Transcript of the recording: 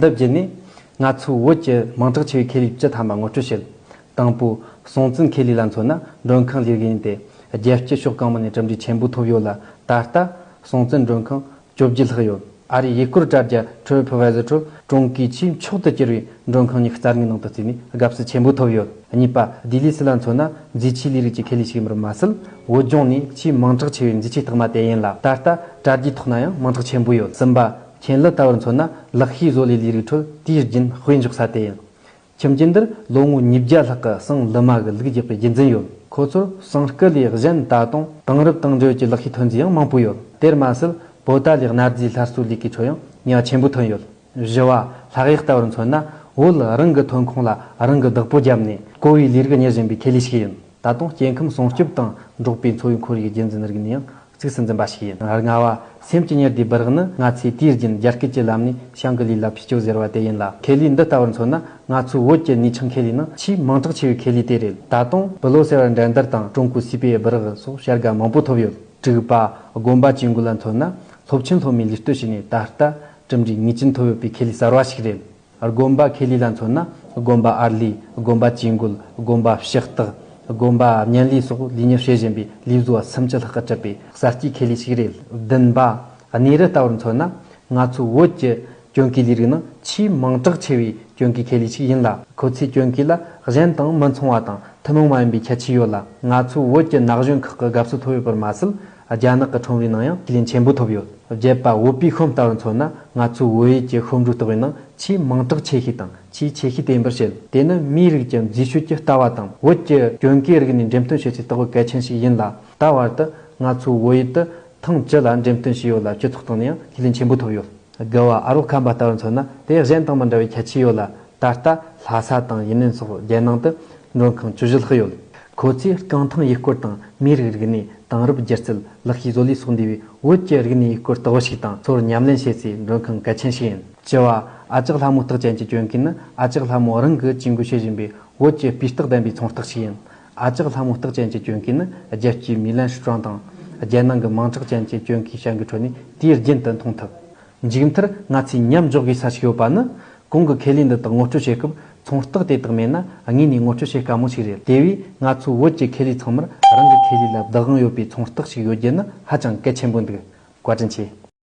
འདི་བརྒྱུད་ནས། ང་ཚོས་བོད་ཀྱི་མིང་གྲགས་ཆེ་བའི་ཁེ་ལས་བཅུ་ཐ་མ་ངོ་སྤྲོད་བྱེད། དང་པོ། སྲོང་བཙན་ཁེ་ལས་ལ་མཚོན་ན་མགྲོན་ཁང་ལས་རིགས་ཡིན་ཏེ། རྒྱལ་སྤྱིའི་ཕྱོགས་གང་མང་ནས་གྲུབ་འབྲས་ཆེན་པོ་ཐོབ་ཡོད་ལ། ད་ལྟ། སྲོང་བཙན་མགྲོན་ཁང། བཅོ་བརྒྱད་ལྷག་ཡོད། ཨ་རིའི་ཡུལ་སྐོར་དྲ་རྒྱ Tripadvisor ཁྲོད་ཀྲུང་གོའི་ཆེས་མཆོག་ཏུ་གྱུར་བའི་མགྲོན་ཁང་གཉིས་ཀྱི་རྩ་དངོས་ནང་དུ་བརྩིས་ནས་དགའ་བསུ་ཆེན་པོ་ཐོབ་ཡོད། གཉིས་པ། ལྡི་ལི་སི་ལ་མཚོན་ན་མཛེས་ཆས་ལས་རིགས་ཀྱི་ཁེ་ལས་ཤིག་ཡིན་པར་མ་ཟད། བོད་ལྗོངས་ནས་ཆེས་མིང་གྲགས་ཆེ་བའི་མཛེས་ཆས་རྟགས་མ་དེ་ཡིན་ལ། ད་ལྟ། དྲ་རྒྱའི་ཐོག་ན་ཡང་མིང་གྲགས་ཆེན་པོ་ཡོད། གསུམ་པ། མཁྱེན་ལི་ལྟ་བུར་མཚོན་ན་ལག་ཤེས་བཟོ་ལས་ལས་རིགས་ཁྲོད་དུས་རྒྱུན་དཔེ་འཇོག་ས་དེ་ཡིན། ཁྱིམ་རྒྱུད་འདིར་ལོ་ངོ་ཉིས་བརྒྱ་ལྷག་གི་སང་ལི་མ་གི་ལུགས་རྒྱས་པའི་རྒྱུད་འཛིན་ཡོད། ཁོ་ཚོར་སང་སྐུ་ལས་གཞན་ད་དུང་དེང་རབས་དེང་དཔྱོད་ཀྱི་ལག་ཤེས་ཐོན་རྫས་ཡང་མང་པོ་ཡོད། དེར་མ་ཟད་བོད་ཏཱ་ལའི་གནའ་རྫས་སླར་གསོའི་ལས་ཀའི་ཁྲོད་ཡང་ཉག་ཆེན་པོ་ཐོན་ཡོད། བཞི་བ། ལྷག་ཡིག་ལྟ་བུར་མཚོན་ན་བོད་རང་གི་ཐོན་ཁུངས་ལ་རང་གིས་བདག་པོ་བརྒྱབ་ནས་རྐོ་བའི་ལས་རིགས་གཉེར་བཞིན་པའི་ཁེ་ལས་ཤིག་ཡིན། ད་དུང་སྐྱེ་ཁམས་སྲུང་སྐྱོབ་དང་འབྲོག་པའི་འཚོ་བའི་ཁོར་ཡུག་རྒྱུད་འཛིན་རིག་ནས་ཡང་ཚིགས་སུ་འཛིན་པ་ཞིག་ཡིན། རྔ་བ། སེམས་ཀྱི་ཉེར་བསྡུས་སྦི་རག་ནི་ང་ཚོས་དུས་རྒྱུན་རྒྱ་སྐད་ཀྱི་ལམ་ནས་ཤང་ཀི་ལི་ལ་ཕི་ཅོ་ཟེར་བ་དེ་ཡིན་ལ་ཁེ་ལི་འདི་ལྟ་བུར་མཚོན་ན་ང་ཚོའི་བོད་ཀྱི་ནུས་ཆུང་ཁེ་ལི་ནི་ཆེས་མིང་གྲགས་ཆེ་བའི་ཁེ་ལི་དེ་རེད། ད་དུང་བི་ལོ་ཟེར་བ་འགྲན་བསྡུར་དང་ཀྲུང་གོའི་སྲིད་པའི་སྦི་རག་སོགས་བྱ་དགའ་མང་པོ་ཐོབ་ཡོད། དྲུག་པ། དགོན་པ་བཅས་འགོ་ལ་མཚོན་ན་སློབ་ཆེན་སློབ་མའི་ལུས་སྟོད་བྱས་ནས་ད་ལྟ་གྲུབ་འབྲས་ངེས་ཅན་ཐོབ་ཡོད་པའི་ཁེ་ལི་གསར་བ་ཞིག་རེད། སྒོམ་པ་ཁེ་ལས་ལ་མཚོན་ན་སྒོམ་པ་ཨར་ལས་སྒོམ་པ་ཇུས་འགོད་སྒོམ་པ་ཕྱི་རྟགས་སྒོམ་པ་བརྙན་ལས་སོགས་ལས་གཉེར་བྱེད་བཞིན་པའི་ལས་བཟོ་བ་སུམ་ཅུ་ལྷག་གི་གྲུབ་པའི་གསར་སྐྱེས་ཁེ་ལས་ཤིག་རེད། བདུན་པ། གནས་རི་ལྟ་བུར་མཚོན་ན་ང་ཚོའི་བོད་ཀྱི་གྱོན་གོས་ལས་རིགས་ནང་ཆེས་མིང་གྲགས་ཆེ་བའི་གྱོན་གོས་ཁེ་ལས་ཤིག་ཡིན་ལ་ཁོ་ཚོའི་གྱོན་གོས་ལ་གཞན་དང་མི་མཚུངས་བ་དང་ཐུན་མོང་མ་ཡིན་པའི་ཁྱད་ཆོས་ཡོད་ལ་ང་ཚོའི་བོད་ཀྱི་ན་གཞོན་ཁག་གི་དགའ་བསུ་ཐོབ་ཡོད་པར་མ་ཟད་རྒྱ་ནག་གི་ཁྲོམ་རའི་ནང་ཡང་ཁས་ལེན་ཆེན་པོ་ཐོབ་ཡོད། བརྒྱད་པ་བོད་པའི་ཤོམ་སྟ་བར་མཚོན་ན་ང་ཚོའི་བོད་ཡིག་གི་ཤོམ་རུས་ལྟ་བའི་ནང་ཆེས་མིང་གྲགས་ཆེ་ཤོས་དང་ཆེས་ཆེ་ཤོས་དེ་འབུར་ཞལ་དེ་ནི་མིའི་རིགས་ཀྱི་འཛུལ་ཞུགས་ཀྱི་ལྟ་བ་དང་བོད་ཀྱི་གྱོན་གོས་རིགས་ནས་འགྲེམས་སྟོན་བྱེད་སའི་ལྟ་བ་གལ་ཆེན་ཞིག་ཡིན་ལ་ད་བར་དུ་ང་ཚོའི་བོད་ཡིག་དུ་ཐེངས་བཅུ་ལ་འགྲེམས་སྟོན་བྱས་ཡོད་ལ་སྤྱི་ཚོགས་སྟེང་ནས་ཡང་ཁས་ལེན་ཆེན་པོ་ཐོབ་ཡོད། དགེ་བ་ཨ་རོགས་ཁམས་པ་ལྟ་བུར་མཚོན་ན་དེ་གཞན་དང་མི་འདྲ་བའི་ཁྱད་ཆོས་ཡོད་ལ། ད་ལྟ་ལྷ་ས་དང་ཡུན་ནན་སོགས་རྒྱལ་ནང་དུ་མགྲོན་ཁང་བཅུ་བཞི་ལྷག་ཡོད། ཁོ་ཚོས་རྐང་ཐང་ཡུལ་སྐོར་དང་མིའི་རིགས་རིག་གནས་དེང་རབས་སྒྱུ་རྩལ་ལག་ཤེས་བཟོ་ལས་སོགས་འདུས་པའི་བོད་ཀྱི་རིག་གནས་ཡུལ་སྐོར་ལྟ་བུ་ཞིག་དང་ཚོར་ཉམས་ལེན་བྱེད་སའི་མགྲོན་ཁང་གལ་ཆེན་ཞིག་ཡིན། བཅུ་བ། ཨ་ཅག་ལྷ་མོའི་རྟགས་ཅན་གྱི་གྱོན་གོས་ནི་ཨ་ཅག་ལྷ་མོ་རང་གིས་གྱོན་གོས་བྱེད་བཞིན་པའི་བོད་ཀྱི་སྤུས་རྟགས་ལྡན་པའི་ཚོང་རྟགས་ཤིག་ཡིན། ཨ་ཅག་ལྷ་མོ་རྟགས་ཅན་གྱི་སྐྱོན་གྱིས་ནི་རྒྱལ་སྤྱིའི་མི་ལན་ཧྲི་ཀྲང་དང། རྒྱལ་ནང་གི་མིང་གྲགས་ཅན་གྱི་སྐྱོན་གྱི་བྱ་འགུལ་ཁྲོད་ནས་དུས་རྒྱུན་དུ་མཐོང་ཐུབ། མཇུག་མཐར་ང་ཚོས་མཉམ་འཇོག་དགོས་ས་ཞིག་ཡོད་པ་ནི། གོང་གི་ཁེ་ལས་འདི་དག་ངོ་སྤྲོད་བྱེད་སྐབས་ཚོང་རྟགས་དེ་དག་མེད་ན་དངོས་ནས་ངོ་སྤྲོད་བྱེད་དཀའ་མོ་ཞིག་རེད། དེ་བས་ང་ཚོའི་བོད་ཀྱི་ཁེ་ལས་ཚང་མར་རང་གི་ཁེ་ལས་ལ་བདག་དབང་ཡོད་པའི་ཚོང་རྟགས་ཤིག་ཡོད་རྒྱུ་ནི་ཧ་ཅང་གལ་ཆེན་པོ་འདུག་བཀའ་དྲིན་ཆེ།